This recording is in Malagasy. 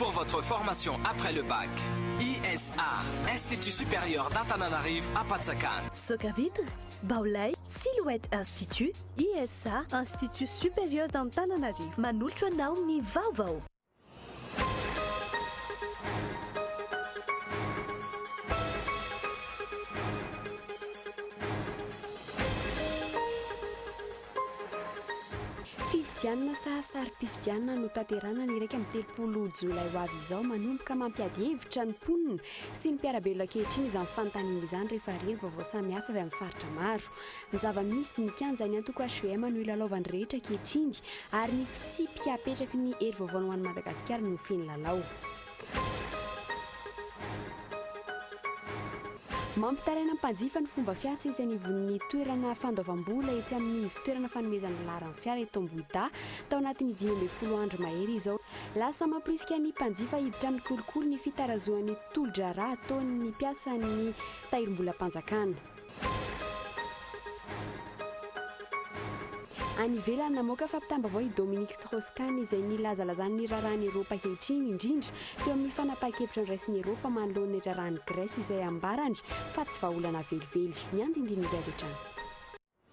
Pour votre formation après le bac, ISA, Institut Supérieur d'Antananarivo Apatsakana. Soca Vitre, Baolay, Silhouette Institut, ISA, Institut Supérieur d'Antananarivo manolotra anao ny vaovao. Fifidianana saha sarim-pifidianana notanterahina ny iraika amby telopolo jolay ho avy izao. Manomboka mampiady hevitra ny mponina sy ny mpiara-belona ankehitriny izany fanontaniana izany rehefa hare ny vaovao samihafa avy amin'ny faritra maro. Ny zava-misy, ny kianjan'ny antoko hvm no ilalaovan'ny rehetra ankehitriny ary ny fitsipika apetraky ny hery vaovao ho an'i Madagasikara no feno lalao. Mampitaraina mpanjifa ny fomba fiasa etsy anivon'ny toerana fandoavam-bola etsy amin'ny ivon-toerana fanomezana laharan'ny fiara eto Ambohidahy tao anatin'ny dimy ambin'ny folo andro mahery izao. Lasa mamporisika ny mpanjifa hiditra amin'ny kolikoly ny fitarazohan'ny tolo-draharaha ataon'ny mpiasan'ny Tahirimbolam-panjakana. Any ivelany, namoaka fampitam-baovao i Dominique Strauss-Kahn izay nilazalazany ny raharahan'i Eropa ankehitriny, indrindra teo amin'ny fanapahan-kevitra noraisin'i Eropa manoloana ny raharahan'i Grèce izay ambarany fa tsy vahaolana velively. Ny andinindin'izay avy hatrany.